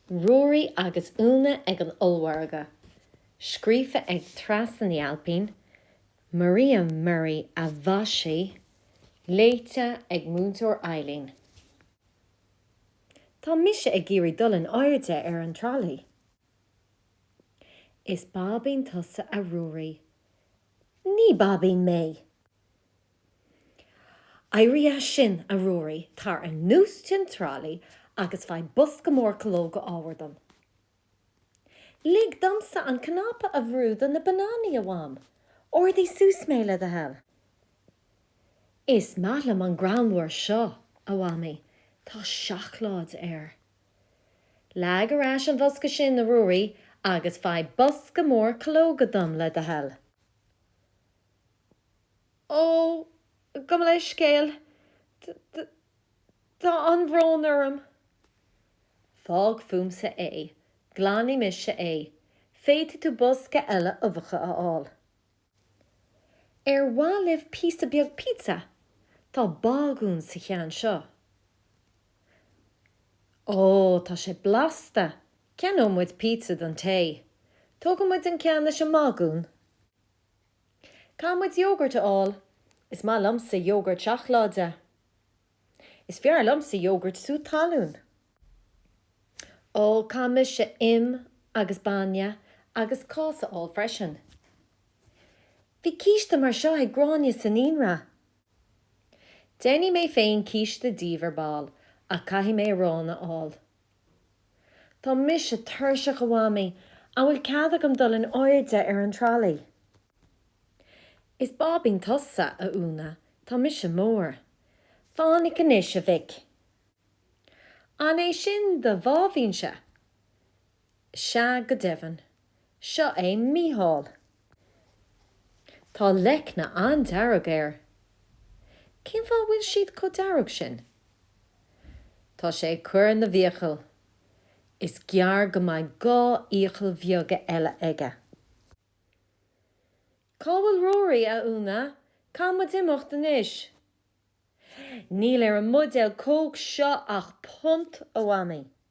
Ruairí agus Úna ag an ollmhargadh. Scríofa ag Treasa Ní Ailpín, Maria Murray a mhaisigh, léite ag Múinteoir Eileen. Tá mise ag iarraidh dul in airde ar an tralaí. Is báibín tusa a Ruairí. Ní báibín mé! Éirigh as sin, a Ruairí, tar anuas den tralaí agus faigh bosca mór calóga arbhair dom. Lig domsa an cnaipe a bhrú do na bananaí, a Mham. Ardaigh suas mé, le do thoil. Is maith liom an grán arbhair seo, a Mhamaí, tá seacláid air. Leag ar ais an bhosca sin, a Ruairí, agus faigh bosca mór calóga dom, le do thoil. Ó, gabh mo leithscéal, tá an-bhrón orm. Fág fúmsa é, glanfaidh mise é, féadfaidh tú bosca eile uibheacha a fháil. Ar mhaith libh píosa beag pizza? Tá bágún sa cheann seo. Ó, tá sé blasta, ceannóidh muid pizza don tae. Tógfaidh muid an ceann leis an mbágún. Caithfidh muid iógart a fháil. Is maith liomsa iógart seacláide. Is fearr liomsa iógart sú talún. Ó, caithfidh mise im agus bainne agus cáis a fháil freisin. Bhí císte mar seo ag Gráinne sa naíonra. Déanfaidh mé féin císte díbh ar ball ach caithfidh mé arán a fháil. Tá mise tuirseach a Mhamaí, an bhfuil cead agam dul in airde ar an tralaí? Is báibín tusa, a Úna, tá mise mór. Fainic anois, a mhic! An é sin do bháibínse? Sea go deimhin. Seo é Mícheál. Tá leicne an-dearg air. Cén fáth a bhfuil siad chomh dearg sin? Tá sé ag cur na bhfiacal. Is gearr go mbeidh dhá fhiacail bheaga eile aige. Cá bhfuil Ruairí, a Úna? Caithfidh muid imeacht anois. Níl ar an mbuidéal cóc seo ach punt, a Mhamaí.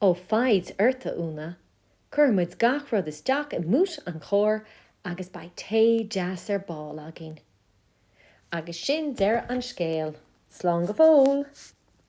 Ó foighid ort, a Úna. Cuirfidh muid gach rud isteach i mbúit an chairr agus beidh tae deas ar ball againn. Agus sin deireadh an scéil. Slán go fóill!